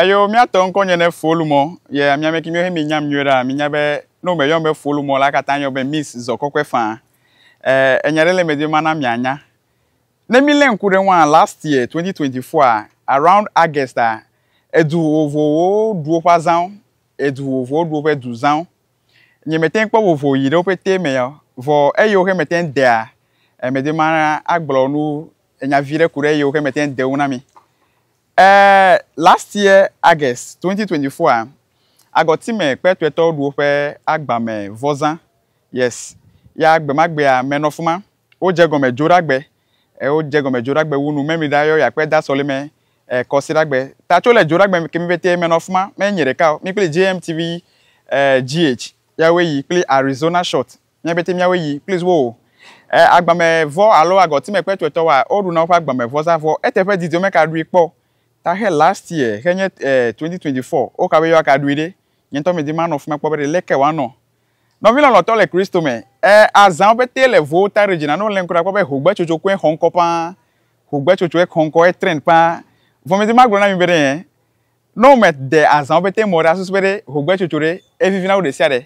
Eyo miatɔ ŋkɔ nye ne folu mɔ ye ami amɛki miwo he mi nyam nyuiɖe a mi nya be ne wo me yɔm be folu mɔ la kata yɔ be miss zɔ kɔkɔɛ fã e enya ɖe le me di mana mia nya ne mi le ŋku ɖe ŋua last year twenty twenty four a around august a edu vovo wo ɖu woƒe azãwo edu vovo wo ɖu woƒe du zãwo nye me teŋ kpɔ vovo yi ɖe woƒe te me ya vɔ eyo xe me teŋ dea e me di mana agblɔ nu enya vi ɖe ku ɖe eyo xe me teŋ de ŋu na mi Eh last year August twenty twenty four a agɔtime kpe tɔetɔwo ɖu woƒe agbame vɔzã yes ya gbemagbea menɔ fima wo dze gɔme dzoɖagbe eh wo dze gɔme dzoɖagbe wu nu memi ɖa yɔ ya kpe da sɔlime eh kɔsiɖagbe ta tso le dzoɖagbe kemi pɛtɛ menɔ fima me nye ɖeka o mi kpli JMTV eh GH ya woe yi kpli Arizona shot Míabete míawoe yi, please wo o. E, agbame vɔ alo agɔtime kpe tuetɔ wa, o ɖuna woƒe agbame vɔ za vɔ. Ete ƒe didiɔ me ka ɖui kpɔ. Ta xe last year, xe nye, e, 2024, o ka be yewoa ka ɖui ɖe. Nye ŋutɔ medi manɔ fima kpɔ be ɖe leke wa nɔ. Nɔvi lɔlɔtɔ le Kristo me, e, azãwo pete le vowo ta ɖe dzi na ne wolẽm kura kpɔ be hogbe tsotso koe xɔ ŋkɔ paa. Hogbe tsotso e xɔ ŋkɔ, e trend paa. Vɔ medi magblɔ na mi be ɖe, e, ne wome de azãwo pete mɔ ɖe asusu be ɖe hogbe tsotso ɖe, e vivina wu ɖesiaɖe.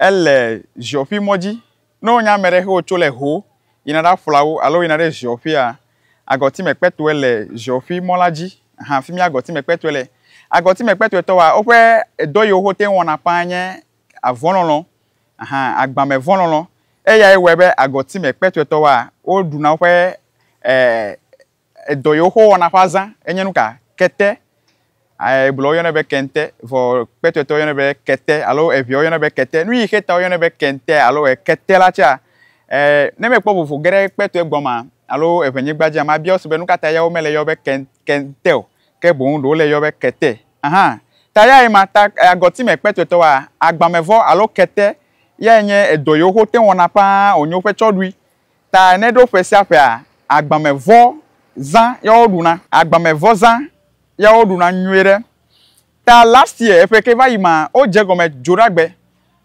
Ele ziɔƒui mɔ dzi. Ne wonya ame ɖe he wotso le ho yina ɖa ƒla wo alo yina ɖe ziɔƒuia, agɔtime kpɛtɔe le ziɔƒui mɔ la dzi han fimie agɔtime kpɛtɔe le. Agɔtime kpɛtɔe tɔwoa, woƒe edɔ yiwo ho teŋ wɔna ƒã nye avɔ lɔlɔ han agbame vɔ lɔlɔ. Eyae wɔe be agɔtime kpɛtɔe tɔwoa, wo ɖuna woƒe eh Edɔ yewo xɔ wɔna ƒe azã enye nuka? Kete, Hebritɔwo yɔnɛ be kente, vɔ kpɛtɔetɔwo yɔnɛ be kete alo eʋeawo yɔnɛ be kete. Nuyi xe ta woyɔnɛ be kente alo kete la tsɛa? Ne mekpɔ vovo geɖe kpɛtɔe gɔmea alo eʋenyigba dzia, mabia wo se be nukata ya womele yɔ be kente o, ke boŋ ɖe wole yɔ be kete. Ahan. Ta ya ye ma ta agɔtime kpɛtɔetɔ wa agbamevɔ alo kete yae nye edɔ yewo xe wote ŋu wɔna ƒãa wònye woƒe tsɔɖui. Ta ne ɖo ƒe sia ƒea, agbamevɔ zã ya wo ɖuna. Agbamevɔ zã ya wo ɖuna nyuie ɖe. Ta last year eƒe ke va yi ma, wo dze gɔme dzoɖagbe.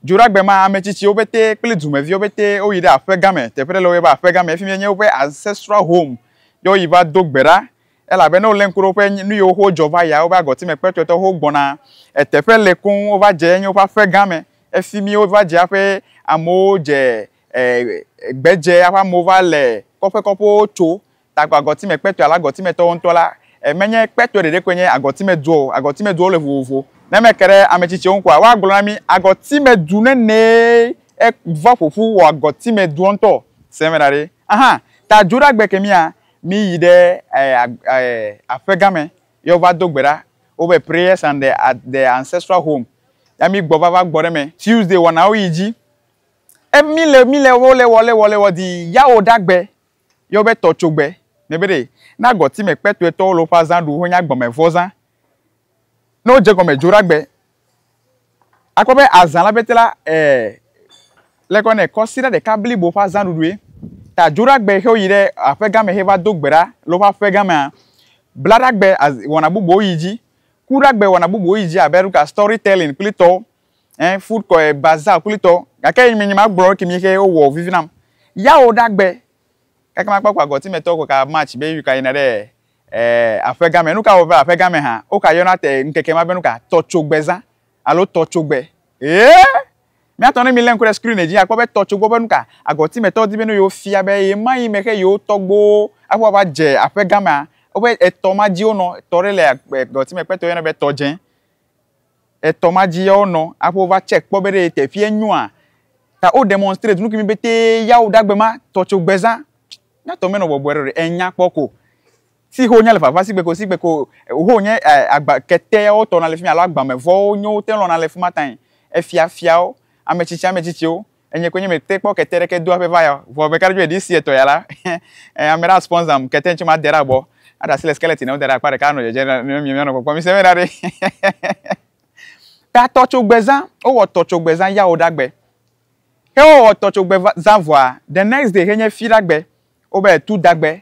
Dzoɖagbe ma, ametsitsiwo pɛtɛ kple dumeviwo pɛtɛ wo yi ɖe aƒe gã me. Teƒe ɖe le wo yɔ be aƒe gã me. Efi mi nye woƒe ancestral home ye wo yi va do gbe ɖa. Elabe ne wo le ŋku ɖe woƒe nu yiwo ho dzɔ va yia, wobe agɔti me kpɛtɔe tɔ ho gbɔna. Eteƒe le koŋ wo va dze enye woƒe aƒe gã me. Efi mi wo va dze aƒe amewo dze gbedze eƒe amewo va le kɔƒe kɔƒewo tso tagbɔ agɔtime kpetɔe alo agɔtime tɔwo ŋutɔ la, menye kpetɔe ɖeɖe koe nye agɔtime dua o. Agɔtime duawo le vovovo. Ne eme ke ɖe ame tsitsiwo ŋu koa, woagblɔ na mí agɔtime du nenee va ƒo ƒu wɔ agɔtime dua ŋutɔ. Se eme ɖa ɖe. Aha! Ta Judah gbe ke mía, míyi ɖe aƒe gã me ye wova do gbe ɖa wobe Prayers and the Ancestral Home ya mí gbɔ va va gbɔ ɖe eme. Tuesday wɔnawo yi dzi. Emi le mi le wo le wɔ le wɔ le wɔ di ya wo ɖa gbe yɔ be tɔ tso gbe ne be ɖe na gɔ ti me kpɛtɔɛ tɔ wo le woƒe azã ɖu ho nya gbɔ me vɔ zã ne wo dze gɔ me dzo ɖa gbe a kpɔ be azã la bete la e le kɔ nɛ kɔsi ɖa ɖeka blibo ƒe azã ɖuɖue ta dzo ɖa gbe xe wo yi ɖe aƒe gã me xe va do gbe ɖa le woƒe aƒe gã mea bla ɖa gbe wɔna bubuwo yi dzi ku ɖa gbe wɔna bubuwo yi dzi abe ɖo ka stɔri tɛlin kple tɔwo eh food kɔ eh, baza kulitɔ gake yi mi nyi ma gblɔ ki mi xe wo wɔ vivi nam ya wo da gbe kaka ma kpakpa gɔti me tɔ ko ka match be yi ka yina ɖe eh aƒe game nu ka wo va aƒe game ha wo ka yɔna te nkeke ma be nu ka tɔ tso gbe za alo tɔ tso gbe eh mi atɔ ne mi lɛn ko ɖe screen dzi akpɔ be tɔ tso gbe be nu ka agɔti me tɔ di be nu yo fia be ye ma yi me xe yo tɔgbo akpɔ va dze aƒe game wo be etɔ ma dzi wo nɔ tɔ ɖe le agɔti me kpɛtɔ yɔna be tɔ dze Etɔ ma dzi yawo nɔ aƒe wova check kpɔ be ɖe teƒea nyoa ta wo demonstrate nukimi betɛ yawo ɖagbe ma tɔ tso gbeza mía tɔ menɔ bɔbɔe ɖe ɖe enya kpɔ ko si ho nya le vava si gbeko si gbeko ho nye agba kete yawo tɔ na le fimi alo agbame vɔwo nyowo te lɔna le fima tae efia fiawo ametsitsi ametsitsiwo Enyɛ koe nye me te kpɔ kete ɖeke do aƒe va ya o. Vɔ meka ɖe edzi be ɖe esi etɔ ya la, eh, ame ɖe a sponsor-am kete ŋtsi ma de ɖe abɔ, a ɖe asi le skeleton ŋu da ɖe akpa ɖeka a nɔ dzedze ɖa ne mi mia nɔ kpɔkpɔ. Mi se be ɖa ɖe. Ta tɔ tso gbe zã, wo wɔ tɔ tso gbe zã ya wo ɖa gbe. Xe wo wɔ tɔ tso gbe zã vɔa, the next day xe nye fi ɖa gbe, wo be tu da gbe.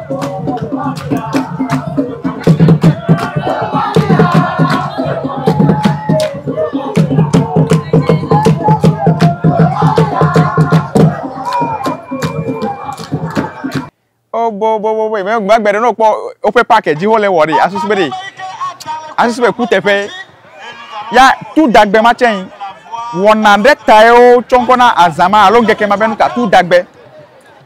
boboboboboe mɛ gbagbe ɖe n'okpɔ woƒe pake dzi wole wɔ ɖi asusu be ɖi asusu be kuteƒe ya tu dagbe ma tsɛ yi wɔna ɖe tae wo tsɔ ŋkɔ na azã ma alo ŋkeke ma be nu ka tu dagbe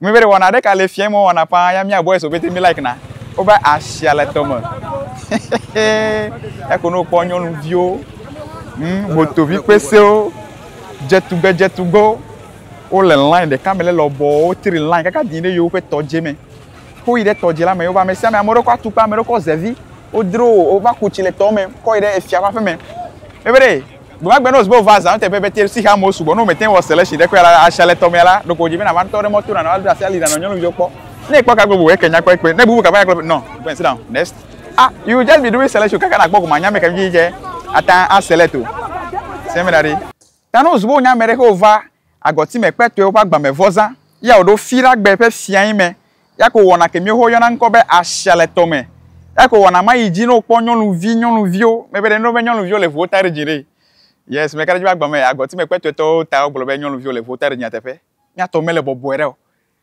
Ŋmɛ be ɖe wɔna ɖeka le fia mɔ wɔna paa ya mia boys obete mi like na wo be asia le tɔ me eko no kpɔ nyɔnu viwo hm moto vi kpesewo dze tugbe dze tugbe wo le line ɖeka me le lɔbɔ wo tri line kaka di ɖe yewo ƒe tɔ dze me ko yi ɖe tɔ dze la me yewo ba me sia me ame ɖe kɔ atukpa ame ɖe kɔ zevi wo dro wo va ku tsi le tɔ me kɔ yi ɖe efia va ƒe me ebe ɖe Gbe ma gbe ne wòzu be wova zã nuteƒe be Tirsixa amewo sugbɔ, ne womete ŋu wɔ seleshi ɖe kpɔe la, asia le tɔmea la, ɖeko wòdze be nàva ŋutɔ ɖe mɔto nànɔ ado asi ali nànɔ nyɔnuviwo kpɔ. Ne ekpɔ ka gbe bu eke nya kpɔ ekpe, ne bubu ka va nya kpɔ ekpe, no, go and sit down, next. Ah, you will just be doing seleshi kaka nàkpɔ goma anya ame ka vivi ke ate ŋu aselect o. Seminary. Ta ne wòzu be wonya ame ɖe xe wòva Agɔtime kpɛtɔewo ƒe agbamevɔzã ya wòɖo Firagbe ƒe fiae me. Eya ko wɔna ke míwo yɔna ŋkɔ be asia le tɔ me. Eya ko wɔna ma yi dzi ne wokpɔ nyɔnuvi nyɔnuviwo. Mebe ɖe míɖo be nyɔnuviwo le ŋuwo ta ɖe dzi ɖee. Yes, meka ɖe edzi be agbame agɔtime kpɛtɔetɔwo ta wogblɔ be nyɔnuviwo le ŋuwo ta ɖe dzi nyateƒe. Mía tɔ mele bɔbɔe ɖe o.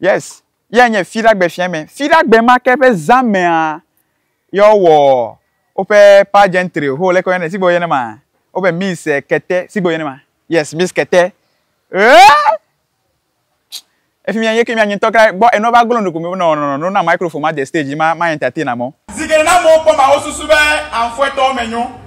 Yes, yea nye Fiɖagbe Fiame. Fiɖagbe ma ke ƒe zã mea, yea wɔ woƒe pageantry ho leke woyɔnɛ, sigbe woyɔnɛ ma, wobe Miss eh, Kete, sigbe woyɔnɛ ma. Yes, Miss Kete. Eeee! Efimia yeke mía nye ŋutɔ kra gbɔ enua va glo nu ko mí be nɔ nɔ nɔ nɔ na microphone ma de stage dzi ma ma entertain amewo. Zi geɖe ne amewo kpɔm ma wosusu be anfuetɔwo me nyo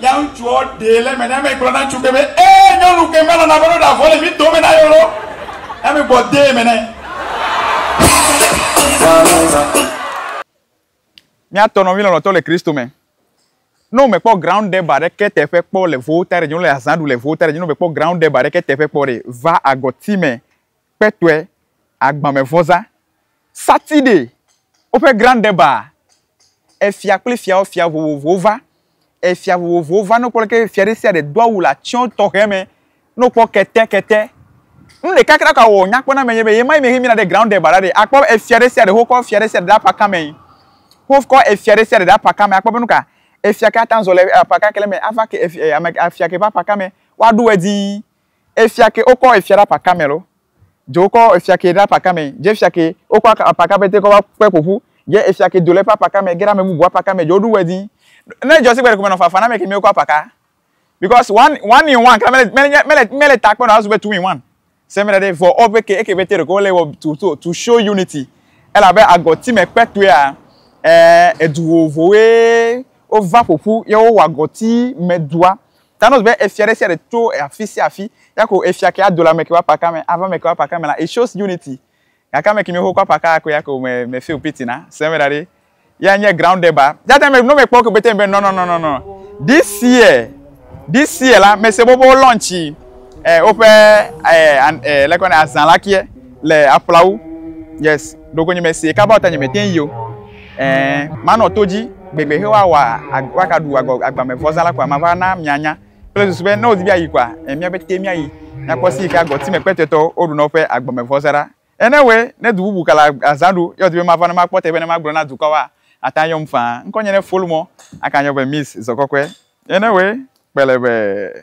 Ya ŋutsuɔ ɖee le eme ne eme gblɔ na ŋutsu ke be, Ee, nyɔnu ke melɔ̃ na be ɖo ɖavɔ le mi dome na yolo. Eme gbɔ dee eme nɛ. Mía tɔ nɔvi lɔlɔtɔ le Kristo me. Ne wo me kpɔ ground deb a ɖeke teƒe kpɔ le voltage ɖe dzi, wo le azã ɖu le voltage ɖe dzi, ne wo me kpɔ ground deb a ɖeke teƒe kpɔ ɖe, va agɔti me kpetɔe, agbamevɔza, satiɖe, woƒe grandeba, efia kple fiawo fia vovovowo va, efia vovovowo va, ne wokpɔ leke fia ɖe sia ɖe do awu le atsyɔ tɔxɛ me, ne wokpɔ kete kete, nu ɖeka ke ɖaka wòwɔ nya kpɔ na ame nye be, ɣe ma ɣi me xi mina ɖe grandeba la ɖe, akpɔ be efia ɖe sia ɖe wokɔ fia ɖe sia ɖe ɖe aƒe akame, wokɔ efia ɖe sia ɖe ɖe aƒe akame, akpɔ be nuka efia ke ate ŋu azɔ le aƒe aka ke le me ava ke efia ke ƒe aƒe akame, woaɖo edzi. Efia ke wokɔ efia ɖe apa Karmel wo. Dze wokɔ efia ke ɖe apa Karmel. Dze efia ke wokɔ aka apa ka pɛtɛ kɔ va kpe ƒo ƒu. Dze efia ke do le eƒe apa ka me ge ɖe ame bubu apa ka me. Dze woɖu wɛ dii. Ne edzɔ si gbe ɖeko menɔ fafa na ame kemi wokɔ apa ka. Because one one in one kura mele mele mele mele takpe nɔ azu be two in one. Se mele ɖe vɔ woƒe ke eke pɛtɛ ɖeko wole wɔ to to to show unity. Elabe agɔti me kpe tɔea eh edu vovovowoe wova ƒo ƒu ye wowɔ agɔti me dua. Thanos be efia ɖe sia ɖe tso afi sia afi, ya ko efia ke ado le ame ke ƒe apaka me, ava ame ke ƒe apaka me la, it shows unity. Gake ame ke mi xoxo apaka akoe ya ko me me feel pity na, se eme ɖa ɖi. Ya nye grounded ba. That time no me kpɔ ke bete be no no no no no. This year, this year la, me se be wo launch eh woƒe eh eh lekɔ ne azã la ke. le aƒlawo yes ɖoko nye mesi kaba ɔta nye me tɛn yio ɛɛ manɔ to dzi gbegbe he wa wa wa ka ɖu agɔ agbame vɔza la kɔa ma va na mia nya kple susu be ne wo di bia yi kɔa ɛ mia bɛ te mia yi na kɔ si yi ka gɔti me kpɛtɛ tɔ wo ɖu nɔ ƒe agbame vɔza ɖa ɛ ne wɛ ne du bubu ka la azã ɖo yɔ di be ma va ne ma kpɔ te be ne ma gblɔ na dukɔ wa ata yɔm faa ŋkɔ nye ne fol mɔ aka nyɔ be miss zɔkɔkɔɛ ɛ ne wɛ kpɛlɛ be.